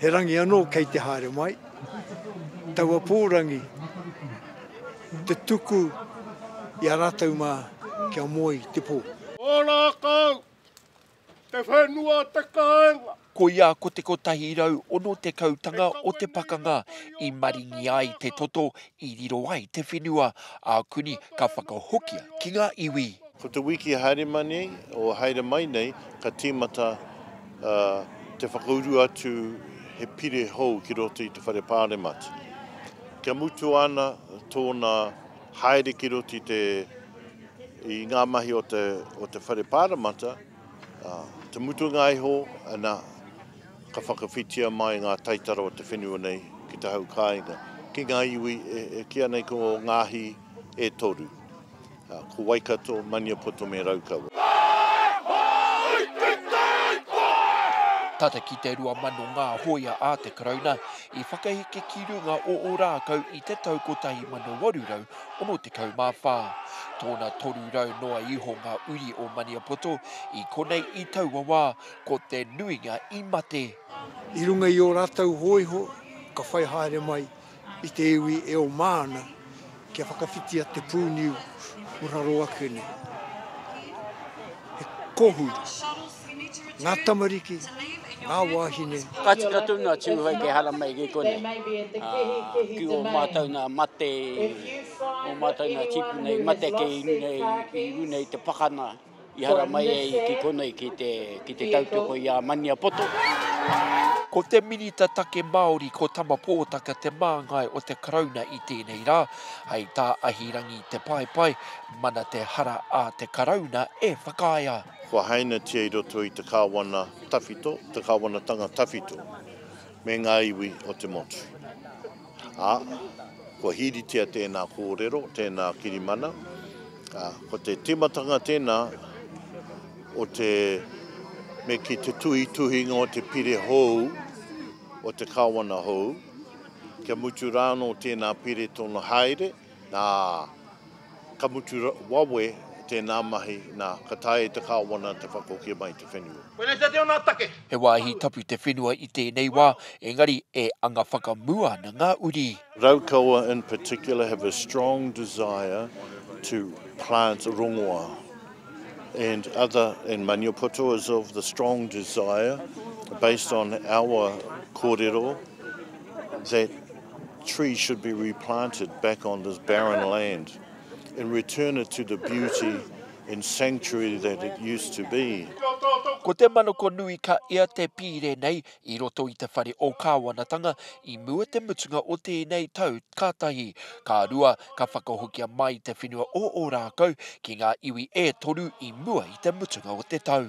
He rangi anō kei te haere mai, taua pōrangi, te tuku i a rātou mā kia moe i te pō. Ōrākau, te whenua o te kāinga. Koia ko te kotahi rau ono tekau tanga o te pakanga i maringi ai te toto I riro ai te whenua a Kuni ka whakahokia ki ngā iwi. Ko te wiki e haere mai nei, o e haere mai nei, ka tīmata te whakauru atu he pire hou ki roto i te Whare Pāremata. Kia mutu ana tōna haere ki roto i ngā mahi o te Whare Pāremata, Te mutunga iho, ana, ka whakawhitia mai ngā taitara o te whenua nei ki te hau kāinga, ki ngā iwi e kīa nei ko Ngāhi e toru, ko Waikato, Maniapoto me Raukawa. Tata ki te rua mano ngā hōia a te Karauna i whakaheke ki runga o Ōrākau i te tau 1800, 64. Tōna 300 noa iho ngā uri o Maniapoto i konei i taua wā, ko te nuinga i mate. I runga i ō rātou hōiho ka whai haere mai i te iwi e oma ana kia whakawhitia te pūniu o raro ake nei. He kōhuru. ngā tamariki, ngā wāhine. Ka tika tonu a Tūhoe ki Haramai i ki konei. Ki ō mātou nā mate, ō mātou nā tīpuna i mate kei runga i, i runga i te pakana i Haramai ai i ki konei ki te, ki te tautoko i a Maniapoto. Ko te Minita Take Māori ko Tama Pōtaka te māngai o te Karauna i tēnei rā, hei tā Ahirangi Te Paepae, Mana te hara a te Karauna e whakaae ai. kua hainatia i roto i te kāwana tawhito, te kāwanatanga tawhito me ngā iwi o te motu. Ā, kua hīritia tēnā kōrero, tēnā kirimana, ā, ko te tīmatanga tēnā o te me ki te tuhituhinga o te pire hou, o te kāwana hou, kia mutu rā anō tēnā pire tōna haere, Nā, ka mutu wawe tēnā mahi, nā, ka taea e te Kāwana te whakahokia mai i te whenua. Koinei te teo nā take. He wāhi tapu te whenua i tēnei wā, engari e anga whakamua ana ngā uri. Raukawa in particular have a strong desire to plant rongoa and other, and Maniapoto is of the strong desire based on our kōrero that, Trees should be replanted back on this barren land and return it to the beauty and sanctuary that it used to be. Ko te manoko nui ka ea te pīre nei i roto i te whare o Kāwanatanga i mua te mutunga o tēnei tau ka tahi, ka rua ka whakahokia mai te whenua o Ōrākau ki ngā iwi e toru i mua i te mutunga o te tau.